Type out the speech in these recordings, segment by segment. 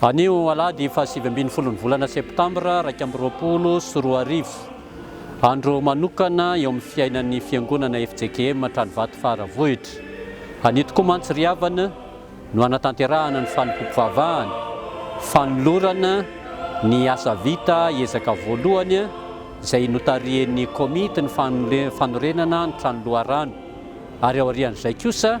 Anio alahady fahasivy ambin'ny folon'ny volana septambra iraika amby roapolo sy roa arivo, andro manokana eo amin'ny fiainan'ny Fiangonana fjkm Tranovato Faravohitra. Anio tokoa mantsy ry havana no hanatanterahana ny fanompoam-pivavahana, fanolorana ny asa vita ezaka voalohany izay notarihin'ny Komity ny fanorenana ny trano loharano ary aorian'izay kosa,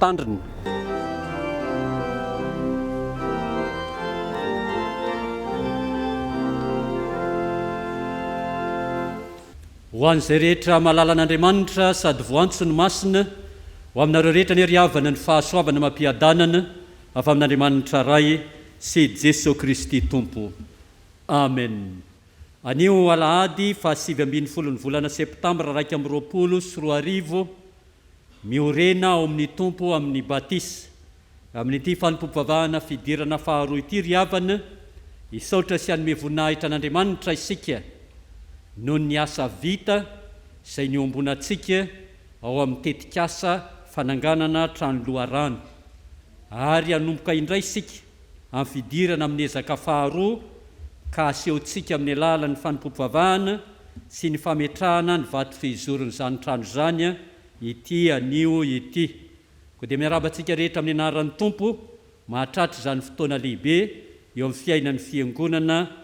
Tandrina. Ho an'izay rehetra mahalala an'Andriamanitra sady voantsony masina, ho aminareo rehetra anie ry havana ny fahasoavana amam-piadanana avy amin'Andriamanitra Ray sy Jesoa Kristy Tompo. Amena. Anio alahady faha sivy ambin'ny folo ny volana septambra iraika amby roapolo sy roa arivo, miorena ao amin'ny Tompo amin'ny batisa, amin'ity fanompoam-pivavahana fidirana faharoa ity ry havana, hisaotra sy hanome voninahitra an'Andriamanitra isika noho ny asa vita izay niombonantsika ao amin'ny tetikasa fananganana trano loharano ary hanomboka indray isika amin'ny fidirana amin'ny ezaka faharoa ka asehontsika amin'ny alalan'ny fanompoam-pivavahana sy ny fametrahana ny vato fizoron'izany trano izany ity anio ity. Koa dia miarahaba antsika rehetra amin'ny anaran'ny Tompo mahatratra izany fotoana lehibe eo amin'ny fiainan'ny Fiangonana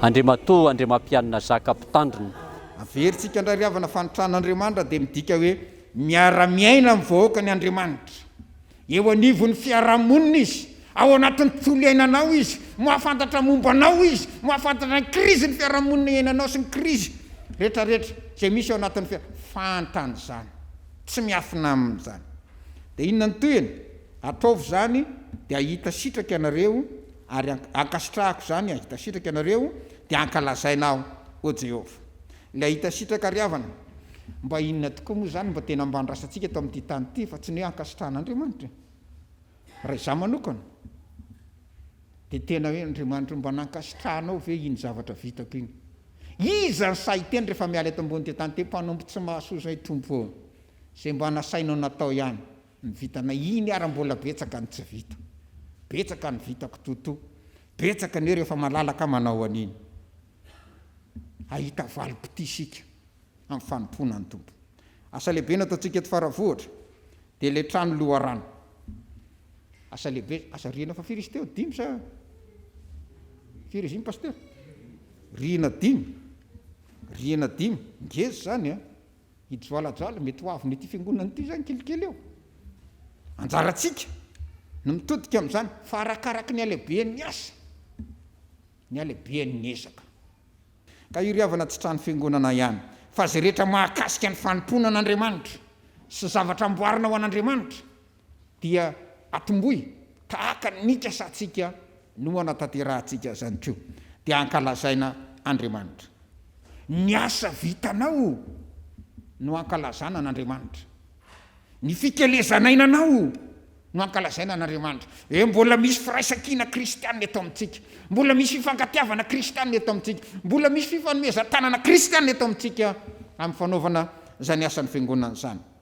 Andriamatoa Andriamampianina Zaka Mpitandrina. Averintsika indray ry havana fa ny tranon'Andriamanitra dia midika hoe miara-miaina amin'ny vahoakany Andriamanitra. Eo anivon'ny fiarahamonina Izy, ao anatin'ny tontolo iainanao Izy, mahafantatra momba anao Izy, mahafantatra ny krizin'ny fiarahamonina iainanao sy ny krizy rehetrarehetra izay misy ao anatin'ny fiara-, fantany izany, tsy miafina Aminy izany. Dia inona no tohiny? Atraovy izany dia hahita sitraka ianareo Ary ankasitrahako izany hahita sitraka ianareo, dia hankalazaina Aho, hoy Jehovah. Ilay hahita sitraka ry havana, mba inona tokoa moa izany? Mba tena mba andrasantsika eto amin'ity tany ity, fa tsy ny hoe ankasitrahan'Andriamanitra e. Raha izaho manokana, dia tena hoe, Andriamanitra o, mba nankasitrahanao ve iny zavatra vitako iny? Iza no sahy hiteny rehefa miala eto ambonin'ity tany ity hoe, Mpanompo tsy mahasoa izay, Tompo ô, izay mba nasainao natao ihany. Ny vitanay iny ary mbola betsaka ny tsy vita. Betsaka ny vitako Toto. Betsaka anie rehefa malalaka manao an'iny. Hahita valim-pitia isika amin'ny fanompoana ny Tompo. Asa lehibe nataontsika eto Faravohitra dia ilay trano loharano. Asa lehibe, asa rihana fa firy izy teo, dimy sa firy izy iny Pasitera? Rihana dimy, rihana dimy, ngeza izany an! I Joalajoala mety ho avon'ity fiangonana ity izany kelikely eo. Anjarantsika no mitodika amin'izany fa arakaraky ny halehibean'ny asa ny halehibean'ny ezaka. Ka iry havana tsy trano fiangonana ihany fa izay rehetra mahakasika ny fanompoana an'Andriamanitra sy zavatra amboarina ho an'Andriamanitra dia atomboy tahaka ny nikasantsika no hanatanterahantsika izany koa dia hankalazaina Andriamanitra. Ny asa vitanao no hankalazana an'Andriamanitra. Ny fikelezainainanao no hankalazaina an'Andriamanitra. Ee, mbola misy firaisankina kristiana eto amintsika, mbola misy fifankatiavana kristiana eto amintsika, mbola misy fifanomezan-tanana kristiana eto amintsika amin'ny fanaovana izany asan'ny Fiangonana izany.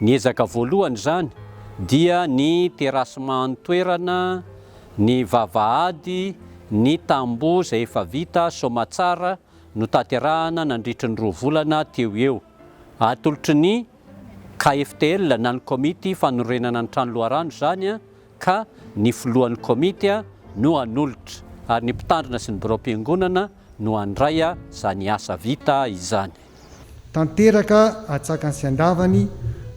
Ny ezaka voalohany izany dia ny terasema an-toerana, ny vavahady, ny tamboho izay efa vita soamatsara notanterahana nandritry ny roa volana teo ho eo. Atolotry ny KFTL na ny komity fanorenana ny trano loharano izany ka ny filohan'ny komity no hanolotra ary ny mpitandrina sy ny biraom-piangonana no handray izany asa vita izany. Tanteraka atsakany sy andavany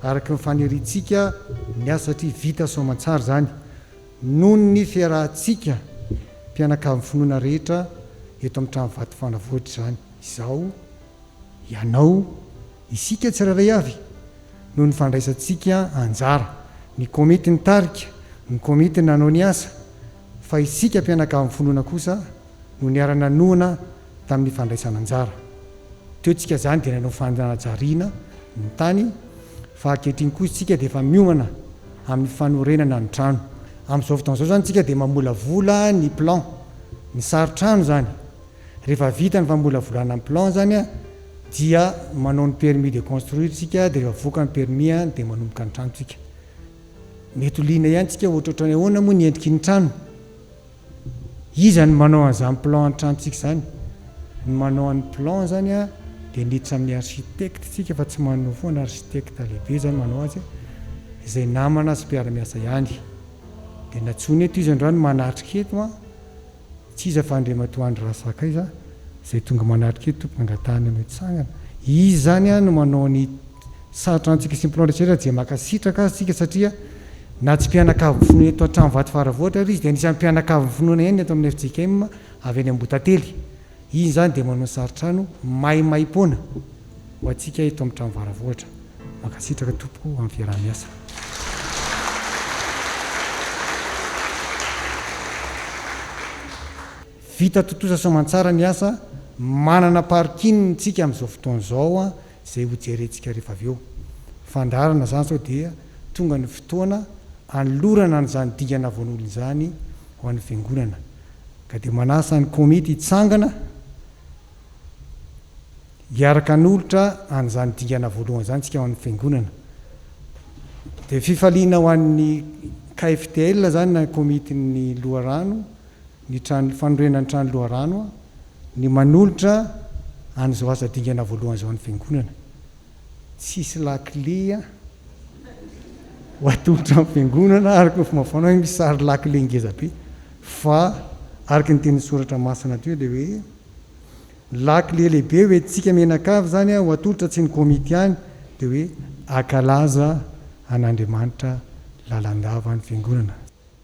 araka ny faniriantsika ny asa satria vita soamantsara izany noho ny fiarahantsika mpianakavin'ny finoana rehetra eto amin'ny trano vato fanavotra izany izao. Ianao, isika tsirairay avy noho ny fandraisantsika anjara, ny komity nitarika, ny komity nanao ny asa, fa isika mpianakavy mifonona kosa no niara-nanohana tamin'ny fandraisana anjara. Teo tsika izany dia nanao fanajariana ny tany fa ankehitriny kosa tsika dia efa miomana amin'ny fanorenana ny trano. Amin'izao fotoana izao izany tsika dia mamolavola ny plan, ny sary trano izany. Rehefa vita ny famolavolana ny plan zany a dia manao ny permis de construire tsika de rehefa voka ny permis a de manomboka ny trano tsika. Mety ho liana ihany tsika ohatrohatran'ny hoe ahoana moa ny endriky ny trano? Iza no manao an'izany plan ny trano tsika zany? Ny manao an'ny plan zany a de miditra amin'ny architecte tsika fa tsy manoa foana, architecte lehibe zany manao azy a, izay namana sy mpiara-miasa ihany. De natsoina eto izy androany manatrika eto a. Tsy iza fa Andriamatoa Andry Razakaiza izay tonga manatrika io tompon'angatahana ny hotsangana. Izy izany no manao ny sarotra antsika sy ny mpinao rehetra dia mankasitraka azy isika satria na tsy mpianakavin'ny finoana eto an-trano Vatofaravohitra ary izy dia anisan'ny mpianakavin'ny finoana ihany ny eto amin'ny fjkm avy any Ambohitately. Iny izany dia manao saritrano maimaimpoana ho antsika eto amin'ny trano Varavohitra. Mankasitraka tompoko amin'ny fiaraha-miasa. Vita tontosa soamantsara ny asa, manana parking tsika amin'izao fotoana izao izay ho jerentsika rehefa avy eo. Fandaharana izany sao dia tonga ny fotoana anolorana an'izany dingana voan'olona izany ho an'ny fiangonana. ka dia manasa ny komity hitsangana hiaraka hanolotra an'izany dingana voalohany izany isika ho an'ny Fiangonana. Dia fifaliana ho an'ny KFTL izany na komitin'ny loharano, ny trano, fanorenan'ny trano loharano, ny manolotra an'izao asa dingana voalohany izao an'ny Fiangonana. tsisy lakile a! ho atolotra amin'ny fiangonana araka ny fomba fanao misy sary lakile ngeza be fa araka ny tenin'ny soratra masina teo dia hoe lakile lehibe hoe tsika mianakavy izany a ho atolotra tsy ny komity ihany dia hoe akalaza an'Andriamanitra lalandava ny fiangonana.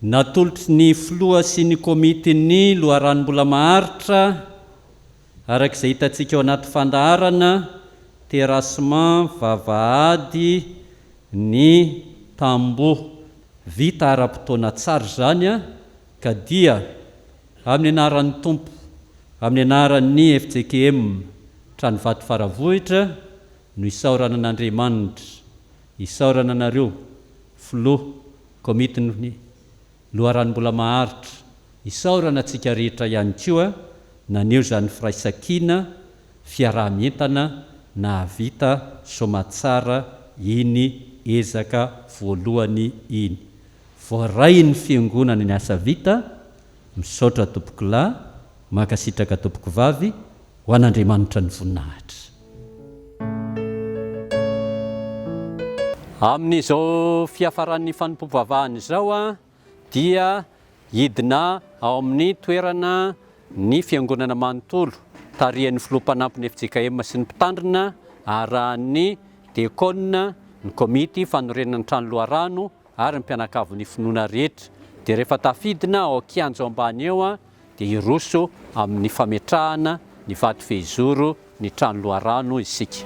Natolotry ny filoha sy ny komitin'ny loharanom-bola maharitra Araka izay hitantsika ao anaty fandaharana, terrassement, vavahady, ny tamboho vita ara-potoana tsara izany ka dia amin'ny anaran'ny Tompo, amin'ny anaran'ny fjkm Tranovato Faravohitra no isaorana an'Andriamanitra, isaorana anareo Filoha Komitin'ny. Loharano mbola maharitra. Isaorana antsika rehetra ihany koa naneho izany firaisankina, fiaraha-mientana nahavita soamatsara iny ezaka voalohany iny. Voarain'ny Fiangonana ny asa vita. Misaotra Tompokolahy. Mankasitraka Tompokovavy. Ho an'Andriamanitra ny voninahitra. Amin'izao fiafaran'ny fanompoam-pivavahana izao dia hidina ao amin'ny toerana ny fiangonana manontolo tarihan'ny filoha mpanampin'ny fjkm sy ny mpitandrina arahan'ny diakona, ny komity fanorenana ny trano loharano ary ny mpianakavin'ny finoana rehetra. Dia rehefa tafidina ao an-kianjo ambany eo dia hiroso amin'ny fametrahana ny vato fehizoro ny trano loharano isika.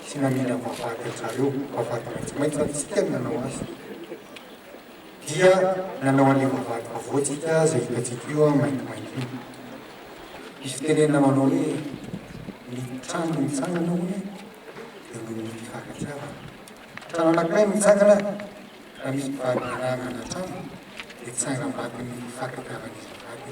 Tsy mamela vavahady an-jareo, vavahady maitsomaitso ary tsy tia ny nanao azy. Dia nanao an'ilay vavahady vaovao tsika izay hitantsika io an, maintimainty io. Misy fitenenana manao hoe, ny trano no mitsangana hono e, dia noho ny fifankatiavana. Trano anankiray no mitsangana, raha misy mpivady niarahana hanantrano, dia tsangam-bato ny fifankatiavan'izy mivady.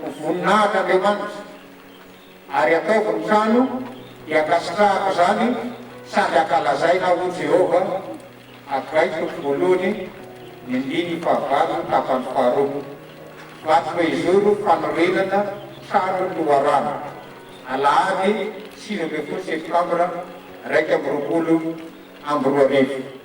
Ho voninahitra Andriamanitra, ary ataovy ny trano dia ankasitrahako izany sady ankalazaina ho Jehovah, Hagay toko voalohany, ny andininy fahavalo, tapany faharoa. Vato fehizoro fanorenana trano loharano, alahady sivy ambin'ny folo septambra iraika amby roapolo amby roa arivo.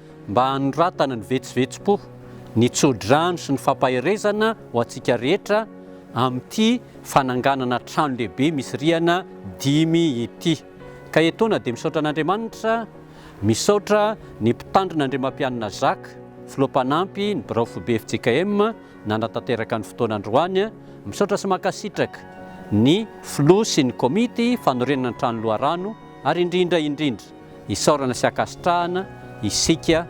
mba hanoratana ny vetsovetsom-po, ny tsodrano sy ny fampaherezana ho antsika rehetra amin'ity fananganana trano lehibe misy rihana dimy ity. Ka etoana dia misaotra an'Andriamanitra, misaotra ny Mpitandrina Andriamampianina Jacques, Filoha Mpanampy ny Birao Foibe fjkm nanatanteraka ny fotoana androany, misaotra sy mankasitraka ny Filoha sy ny Komity fanorenana ny trano loharano ary indrindra indrindra, Isaorana sy ankasitrahana isika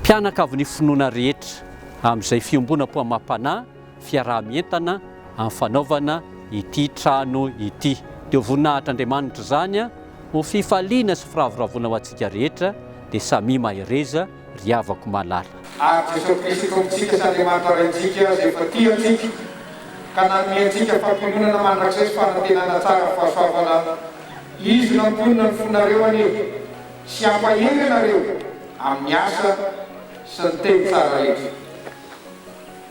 mpianakavin'ny finoana rehetra amin'izay fiombonam-poamam-panahy fiaraha-mientana amin'ny fanaovana ity trano ity. Dia ho voninahitr'Andriamanitra izany, ho fifaliana sy firavoravoana ho antsika rehetra, dia samia mahereza. ry havako malala. Ary Jesosy Kristy Tompontsika sy Andriamanitra Raintsika izay efa tia antsika ka nanome antsika fampiononana mandrakizay sy fanantenana tsara amin'ny fahasoavana, Izy no hampionona ny fonareo anie sy hampahery anareo amin'ny asa sy ny teny tsara rehetra.